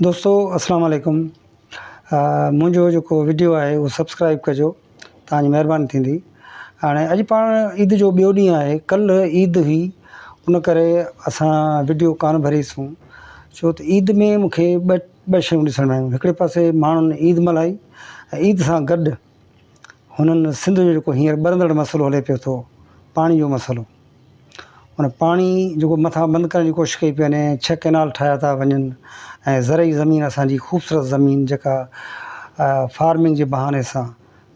دوستو السلام عليڪم منهنجو جيڪو وڊيو آهي اهو سبسڪرائب ڪجو تهانجي مهرباني ٿيندي هاڻي اڄ پاڻ عيد جو ٻيو ڏينهن آهي ڪلهه عيد هئي ان ڪري اسان وڊيو ڪانه ڀريسون ڇو ته عيد ۾ مونکي ٻه ٻه شيون ڏسڻ ۾ آيون هڪڙي پاسي ماڻهن عيد ملهائي عيد سان گڏ هن سنڌ جو جيڪو هينئر ٻرندڙ مسئلو هلي پيو ٿو پاڻي جو مسئلو ان پاڻي جيڪو مٿا بند ڪرڻ جي ڪوشش ڪئي پئي وڃي ڇهه ڪئنال ٺاهيا ٿا وڃن ۽ زرعي زمين اسانجي خوبصورت زمين جيڪا فارمنگ جي بهاني سان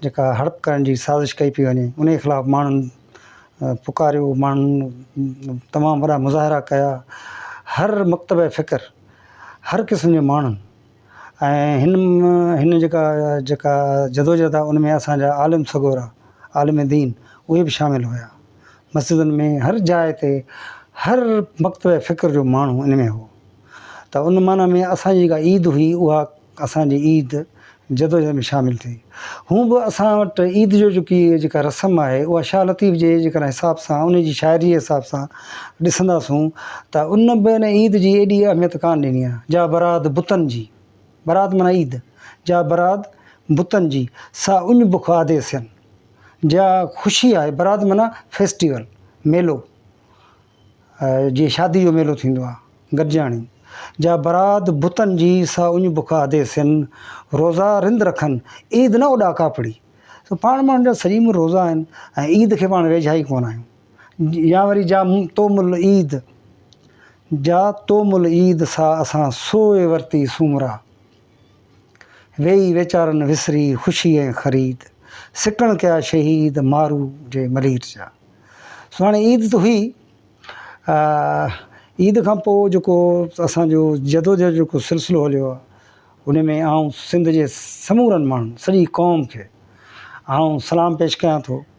جيڪا هڙپ ڪرڻ جي سازش ڪئي پئي وڃي انهي خلاف ماڻهن پڪاريو ماڻهن تمام وڏا مظاهرا ڪيا هر مڪتبه فڪر هر قسم جي ماڻهن ۽ هن هن جيڪا جيڪا جدوجهد آهي ان ۾ اسان جا عالم سڳورا عالم دين اهي به شامل هيا مسجدن ۾ هر جاء تي هر مڪتبه فڪر جو ماڻهو ان ۾ هو ته ان معنيٰ ۾ اسان جي جيڪا عيد هئي اها اسان جي عيد جدوجهد ۾ شامل ٿي هون به اسان وٽ عيد جو جيڪي جيڪا رسم آهي اها شاهه لطيف جي جيڪڏهن حساب سان ان جي شاعري حساب سان ڏسنداسون ته ان به ان عيد جي ايڏي اهميت ڪانه ڏني آهي جا براد بتن جي، براد معنيٰ عيد، جا براد بتن جي، سا اڃ بک آڌي سين. جا خوشي آهي، براد معنيٰ فيسٽيول، ميلو، جيئن شادي جو ميلو ٿيندو آهي، گڏجاڻي، جا براد بتن جي، سا اڃ بک آڌي سين، روزا رند رکن، عيد نه اڏا ڪاپڙي. سو پاڻ ماڻهن جا سڄي عمر روزا آهن ۽ عيد کي پاڻ ويجها ئي ڪونه آهيون. يا وري جا توم العيد، جا توم العيد سا اسان سوئي ورتي سومرا، ويئي ويچارن وسري خوشي ۽ خريد، سڪڻ ڪيا شهيد مارو جي ملير جا. سو هاڻي عيد ته هئي، عيد کان پوء جيڪو اسان جو جدوجهد جو جيڪو سلسلو هليو آهي، ان ۾ آئون سنڌ جي سمورن ماڻهن سڄي قوم کي آئون سلام پيش ڪيان ٿو.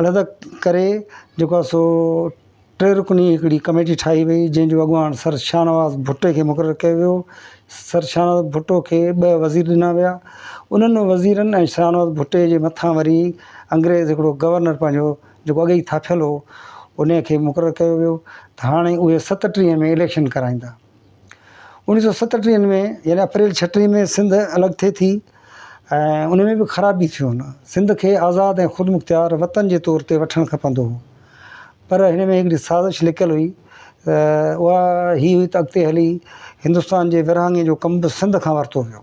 علحده ڪري جيڪو آهي سو ٽي رڪني هڪڙي ڪميٽي ٺاهي وئي جنهن جو اڳواڻ سر شاهنواز ڀٽي کي مقرر ڪيو ويو سر شاهنواز ڀٽو کي ٻه وزير ڏنا ويا انهن وزيرن ۽ شاهنواز ڀٽي جي مٿان وري انگريز هڪڙو گورنر پنهنجو جيڪو اڳي ئي ٿاڦيل هو انهي کي مقرر ڪيو ويو ته هاڻي اهي ستٽيهه ۾ اليڪشن ڪرائيندا اوڻيھ سؤ ستٽيهن ۾ يعني اپريل ڇٽيهن ۾ سنڌ الڳ ٿئي ٿي ۽ ان ۾ به خرابي ٿيون سنڌ کي آزاد ۽ خودمختيار وطن جي طور تي وٺڻ کپندو هو پر هن ۾ هڪڙي سازش لڪل هئي اها هي هئي ته اڳتي هلي هندستان جي ورهاڱي جو ڪم به سنڌ کان ورتو ويو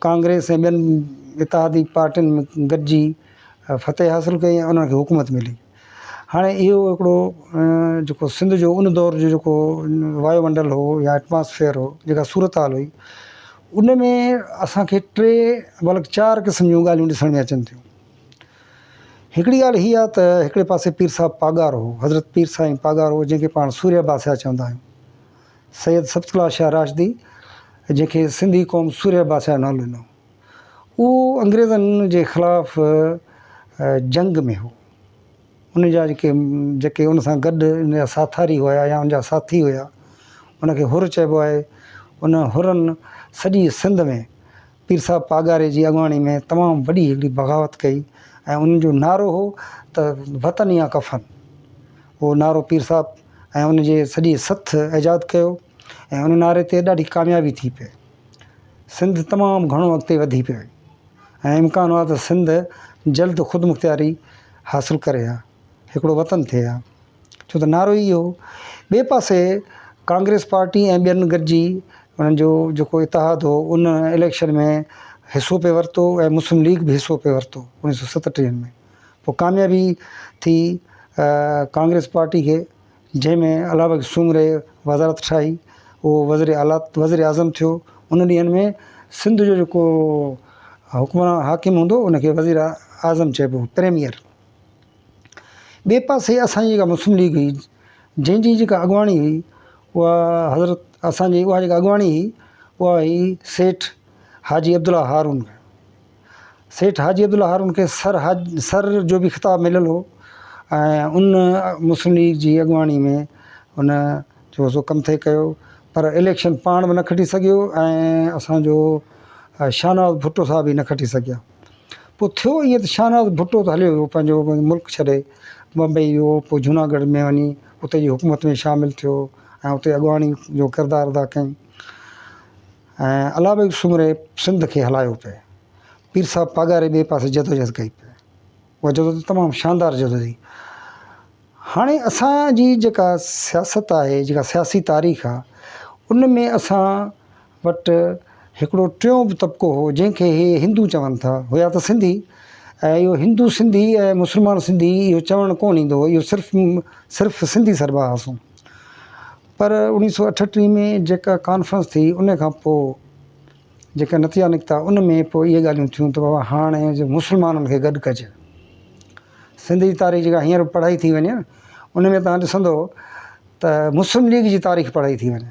ڪانگريس ۽ ٻين اتحادي پارٽين گڏجي فتح حاصل ڪئي ۽ انهن کي حڪومت ملي. هاڻي اهو هڪڙو جيڪو سنڌ جو ان دور جو جيڪو وايو منڊل هو يا ائٽماسفيئر هو جيڪا صورتحال هئي ان ۾ اسان کي ٽي بلڪ چار قسم جون ڳالهيون ڏسڻ ۾ اچن ٿيون. هڪڙي ڳالهه هي آهي ته هڪڙي پاسي پير صاحب پاڳارو هو حضرت پير سائين پاڳارو جنهن کي پاڻ سوريا باسيا چوندا آهيون. سيد سبطلاه شاهه راشدي جنهن کي سنڌي قوم سورهيه بادشاهه نالو ڏنو اهو انگريزن جي خلاف جنگ ۾ هو ان جا جيڪي جيڪي ان سان گڏ ان جا ساٿاري هيا يا ان جا ساٿي هيا ان کي حر چئبو آهي ان حرن سڄي سنڌ ۾ پير صاحب پاڳاري جي اڳواڻي ۾ تمام وڏي هڪڙي بغاوت ڪئي ۽ انهن جو نعرو هو ته وطن يا ڪفن اهو نعرو پير صاحب ۽ ان جي سڄي سٿ ايجاد ڪيو ۽ ان نعري تي ڏاڍي ڪاميابي ٿي پئي سنڌ تمام گهڻو اڳتي وڌي پئي ۽ امڪان هو ته سنڌ جلد خودمختياري حاصل ڪري ها هڪڙو وطن ٿئي ها ڇو ته نعرو ئي اهو هو. ٻئي پاسي ڪانگريس پارٽي ۽ ٻين گڏجي انهن جو جيڪو اتحاد هو ان اليڪشن ۾ حصو پئي ورتو ۽ مسلم ليگ به حصو پئي ورتو اوڻيهه سؤ ستٽيهه ۾ پوء ڪاميابي ٿي ڪانگريس پارٽي کي جنهن ۾ الله بخش سومري وزارت ٺاهي اهو وزير اعليٰ وزير اعظم ٿيو ان ڏينهن ۾ سنڌ جو جيڪو حڪمران حاڪم هوندو ان کي وزير اعظم چئبو هو پريميئر ٻئي پاسي اسان جي جيڪا مسلم ليگ هئي جنهن جي جيڪا اڳواڻي هئي اها حضرت اسان جي اها جيڪا اڳواڻي هئي اها هئي سيٺ حاجي عبدالله هارون سيٺ حاجي عبدالله هارون کي سر حاج سر جو بي خطاب مليل هو ۽ ان مسلم ليگ جي اڳواڻي ۾ ان جو سو ڪم ٿي ڪيو پر اليڪشن پاڻ به نه کٽي سگهيو ۽ اسان جو شاهنواز ڀٽو صاحب به نه کٽي سگهيا پوء ٿيو ائين ته شاهنواز ڀٽو ته هليو ويو پنهنجو ملڪ ڇڏي بمبئي ويو پوء جوناگڙهه ۾ وڃي اتي جي حڪومت ۾ شامل ٿيو ۽ اتي اڳواڻي جو ڪردار ادا ڪيائين ۽ الله بيگ سومري سنڌ کي هلايو پئي پير صاحب پاڳاري ٻئي پاسي جدوجهد ڪئي پئي اها جدوجهد تمام شاندار جدوجهد هئي هاڻي اسان جي جيڪا سياست آهي جيڪا سياسي تاريخ آهي ان ۾ اسان وٽ هڪڙو ٽيون به طبقو هو جنهن کي هي هندو چون ٿا هيا ته سنڌي ۽ اهو هندو سنڌي ۽ مسلمان سنڌي اهو چوڻ ڪونه ايندو هو اهو صرف صرف سنڌي سربا هئاسون پر اوڻيهه سؤ اٺٽيهه ۾ جيڪا ڪانفرنس ٿي ان کان پوء جيڪا نتيا نڪتا ان ۾ پوء اهي ڳالهيون ٿيون ته بابا هاڻي جو مسلمانن کي گڏ ڪجي سنڌ جي تاريخ جيڪا هينئر پڙهائي ٿي وڃي ان ۾ تان ڏسندو ته مسلم ليگ جي تاريخ پڙهائي ٿي وڃي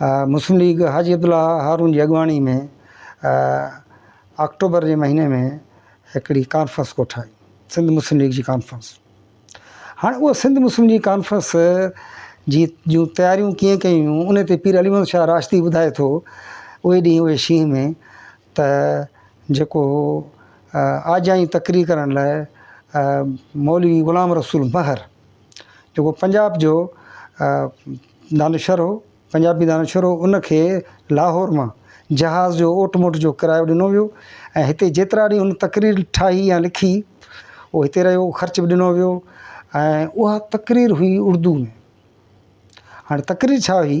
مسلم ليگ حاجي عبدالله هارون جي اڳواڻي ۾ آڪٽوبر جي مهيني ۾ هڪڙي ڪانفرنس ڪوٺائي سنڌ مسلم ليگ جي ڪانفرنس هاڻي اهو سنڌ مسلم ليگ ڪانفرنس جي جون تياريون ڪيئن ڪيون ان تي پير علي محمد شاهه راشدي ٻڌائي ٿو اهي ڏينهن اهي شينهن ۾ ته جيڪو آجائي تقرير ڪرڻ لاء مولوي غلام رسول مهر جيڪو پنجاب جو دانشور هو، پنجابي دانشور هو، ان کي لاهور مان جهاز جو اوٽ موٽ جو ڪرايو ڏنو ويو ۽ هتي جيترا ڏينهن ان تقرير ٺاهي يا لکي اهو هتي رهيو، خرچ به ڏنو ويو ۽ اها تقرير هئي اردو ۾. هاڻي تقرير ڇا هئي؟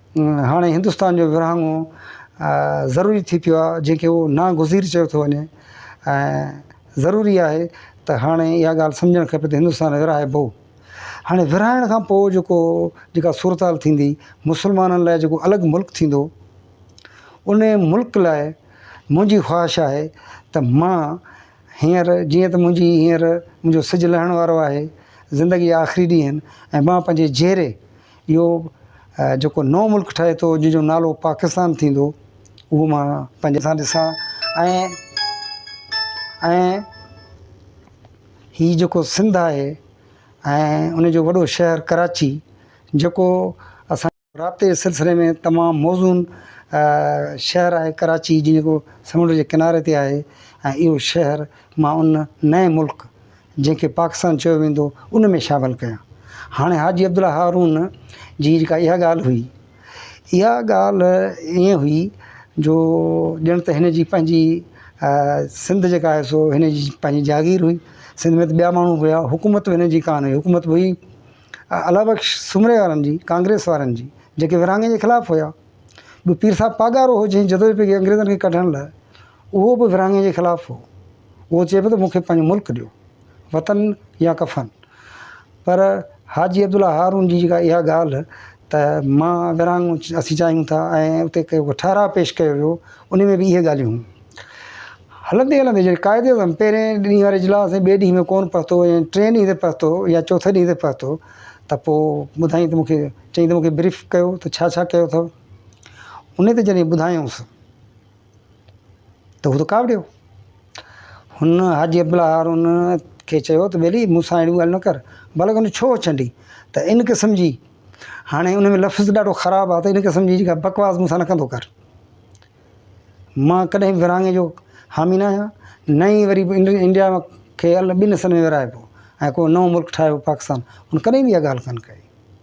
هاڻي هندستان جو ورهاڱو ضروري ٿي پيو آهي جنهن کي هو ناگزير چيو ٿو وڃي ۽ ضروري آهي ته هاڻي اها ڳالهه سمجهڻ کپي ته هندستان ورهائبو هاڻي ورهائڻ کان پوء جيڪو جيڪا صورتحال ٿيندي مسلمانن لاء جيڪو الڳ ملڪ ٿيندو ان ملڪ لاء منهنجي خواهش آهي ته مان هينئر جيئن ته منهنجي هينئر منهنجو سج لهڻ وارو آهي زندگي آخري ڏينهن ۽ مان پنهنجي جيئري اهو جيڪو نئون ملڪ ٺهي ٿو جنهن جو نالو پاڪستان ٿيندو اهو مان پنهنجي سان ڏسان ۽ ۽ هي جيڪو سنڌ آهي ۽ ان جو وڏو شهر ڪراچي جيڪو اسان رابطي جي سلسلي ۾ تمام موزون شهر آهي ڪراچي جيڪو سمنڊ جي ڪناري تي آهي ۽ اهو شهر مان ان نئين ملڪ جنهن کي پاڪستان چيو ويندو ان ۾ شامل ڪيا هاڻي حاجي عبدالله هارون جي جيڪا اها ڳالهه هئي اها ڳالهه ائين هئي جو ڄڻ ته هن جي پنهنجي سنڌ جيڪا آهي سو هن جي پنهنجي جاگير هئي سنڌ ۾ ٻيا ماڻهو هيا حڪومت هن جي ڪانه هئي حڪومت هئي الا بخش سومري وارن جي ڪانگريس وارن جي جيڪي ورهاڱي جي خلاف هيا ٻيو پير صاحب پاڳارو هو جنهن جدوجهد ڪئي انگريزن کي ڪڍڻ لاء اهو به ورهاڱي جي خلاف هو. اهو چئي پيو ته مون کي پنهنجو ملڪ ڏيو، وطن يا ڪفن. پر حاجي عبدالله هارون جي جيڪا اها ڳالهه ته مان ورهاڱو اسين چاهيون ٿا ۽ اتي ڪو ٺهراء پيش ڪيو ويو، ان ۾ به اهي ڳالهيون هيون. هلندي هلندي جڏهن قائد اعظم پهرين ڏينهن واري اجلاس ۽ ٻئي ڏينهن ۾ ڪونه پهتو ۽ ٽئين ڏينهن تي پهتو يا چوٿين ڏينهن تي پهتو ته پوء ٻڌائين ته مون کي چئين ته مون کي بريف ڪيو ته ڇا ڇا ڪيو اٿو. ان تي جڏهن ٻڌايائونس. ته هو ته ڪاوڙيو. هن حاجي عبدالله هارون کي چيو ته ٻيلي مون سان اهڙيون ڳالهيون نه ڪر. بلڪ ان ڇو ڇنڊي ته ان قسم جي هاڻي ان ۾ لفظ ڏاڍو خراب آهي ته ان قسم جي جيڪا بڪواس مون سان نه ڪندو ڪر. مان ڪڏهن به ورهاڱي جو حامي نه آهيان نه ئي وري انڊيا کي ٻن حصن ۾ ورهائبو ۽ ڪو نئون ملڪ ٺاهيو پاڪستان ان ڪڏهن به اها ڳالهه ڪانه ڪئي.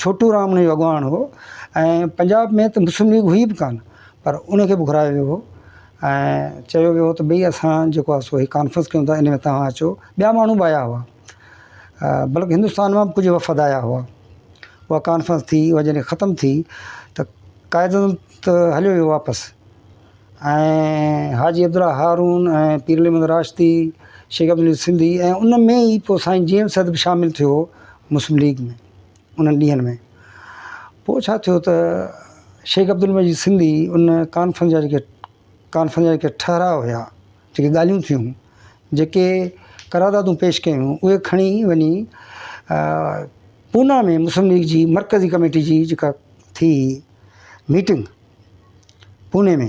ڇوٽو رام انهن جو اڳواڻ هو ۽ پنجاب ۾ ته مسلم ليگ هئي به ڪانه پر ان کي به گهرايو ويو هو ۽ چيو ويو هو ته ڀئي اسان جيڪو آهي سو هي ڪانفرنس ڪيون ٿا ان ۾ توهان اچو ٻيا ماڻهو به آيا هئا بلڪ هندستان مان به ڪجهه وفد آيا هئا اها ڪانفرنس ٿي اها جڏهن ختم ٿي ته قائد اعظم ته هليو ويو واپس ۽ حاجي عبدالله هارون ۽ پير علي محمد راشدي، شيخ عبدالعزيز سنڌي ۽ ان ۾ ئي پوء سائين جي ايم سيد به شامل ٿيو مسلم ليگ ۾ انهن ڏينهن ۾. پوء ڇا ٿيو ته شيخ عبدالمجيد سنڌي ان ڪانفرنس جا جيڪي ڪانفرنس جا جيڪي ٺهراء هيا، جيڪي ڳالهيون ٿيون، جيڪي قراردادون پيش ڪيون اهي کڻي وڃي پونا ۾ مسلم ليگ جي مرڪزي ڪميٽي جي جيڪا ٿي ميٽنگ، پوني ۾،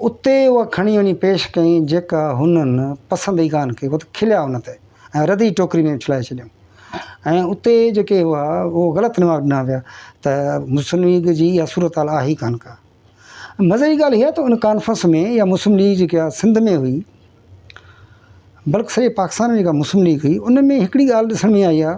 اتي اها کڻي وڃي پيش ڪيائين، جيڪا هنن پسند ئي ڪانه ڪئي، هو ته کليا ان تي ۽ رڌ ئي ٽوڪري ۾ اڇلائي ڇڏيائون ۽ اتي جيڪي هئا، اهو غلط نواب ڏنا ويا ته مسلم ليگ جي اها صورتحال آهي ئي ڪانه ڪا. مزي جي ڳالهه اها ته ان ڪانفرنس ۾ اها مسلم ليگ جيڪا اها سنڌ ۾ هئي، بلڪ سڄي پاڪستان ۾ جيڪا مسلم ليگ هئي، ان ۾ هڪڙي ڳالهه ڏسڻ ۾ آئي آهي،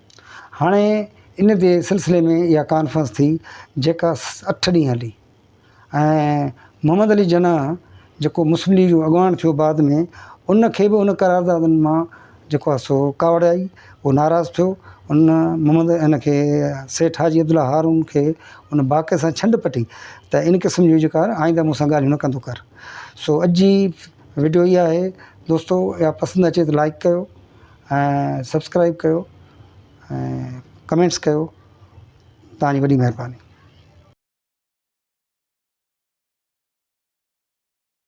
هاڻي ان جي سلسلي ۾ اها ڪانفرنس ٿي جيڪا اٺ ڏينهن هلي ۽ محمد علي جناح جيڪو مسلم ليگ جو اڳواڻ ٿيو بعد ۾ ان کي به ان قراردادن مان جيڪو آهي سو ڪاوڙ آئي هو ناراض ٿيو ان محمد ان کي سيٺ حاجي عبدالله هارون کي ان باقي سان ڇنڊ پٽي ته ان قسم جون جيڪا آئنده مون سان ڳالهيون نه ڪندو ڪر سو اڄ جي وڊيو اها آهي دوستو اها پسند اچي ته لائڪ ڪيو ۽ سبسڪرائب ڪيو ۽ ڪمينٽس ڪيو توهان جي وڏي مهرباني